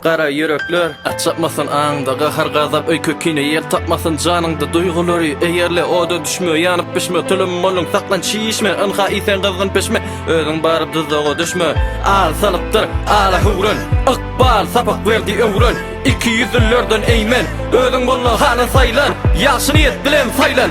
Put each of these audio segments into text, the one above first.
Gara ýürekler, açypmasyn aňyňda gahar-gazap öýke-kine ýer tapmasyn janyňda duýgulary eýerle oda düşme ýanyp-bişme tylym bolyň saklan çişme ynha iýseň gyzgyn pişme özüň baryp duzaga düşme al salykdyr ala höwren ykbal sapak berdi öwren ikiýüzlülerden eýmen özüň bolmaly halan saýlan ýagşy niýet bilen saýlan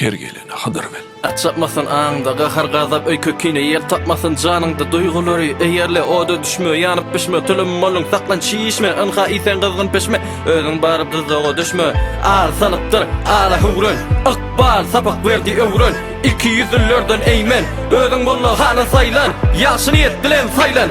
Her gelene Hydyr bel. At çapmasyn aňyňda gahar-gazap öýke kine ýer tapmasyn janyňda duýgulary eýerle oda düşme ýanyp bişme tülim molun saklan çişme ynha iýseň gyzgyn pişme özüň baryp gyzdaga düşme ar salypdyr ara höwren ykbal sapak berdi öwren iki ýüzlülerden eýmen özüň molla hana saýlan ýagşy niýet bilen saýlan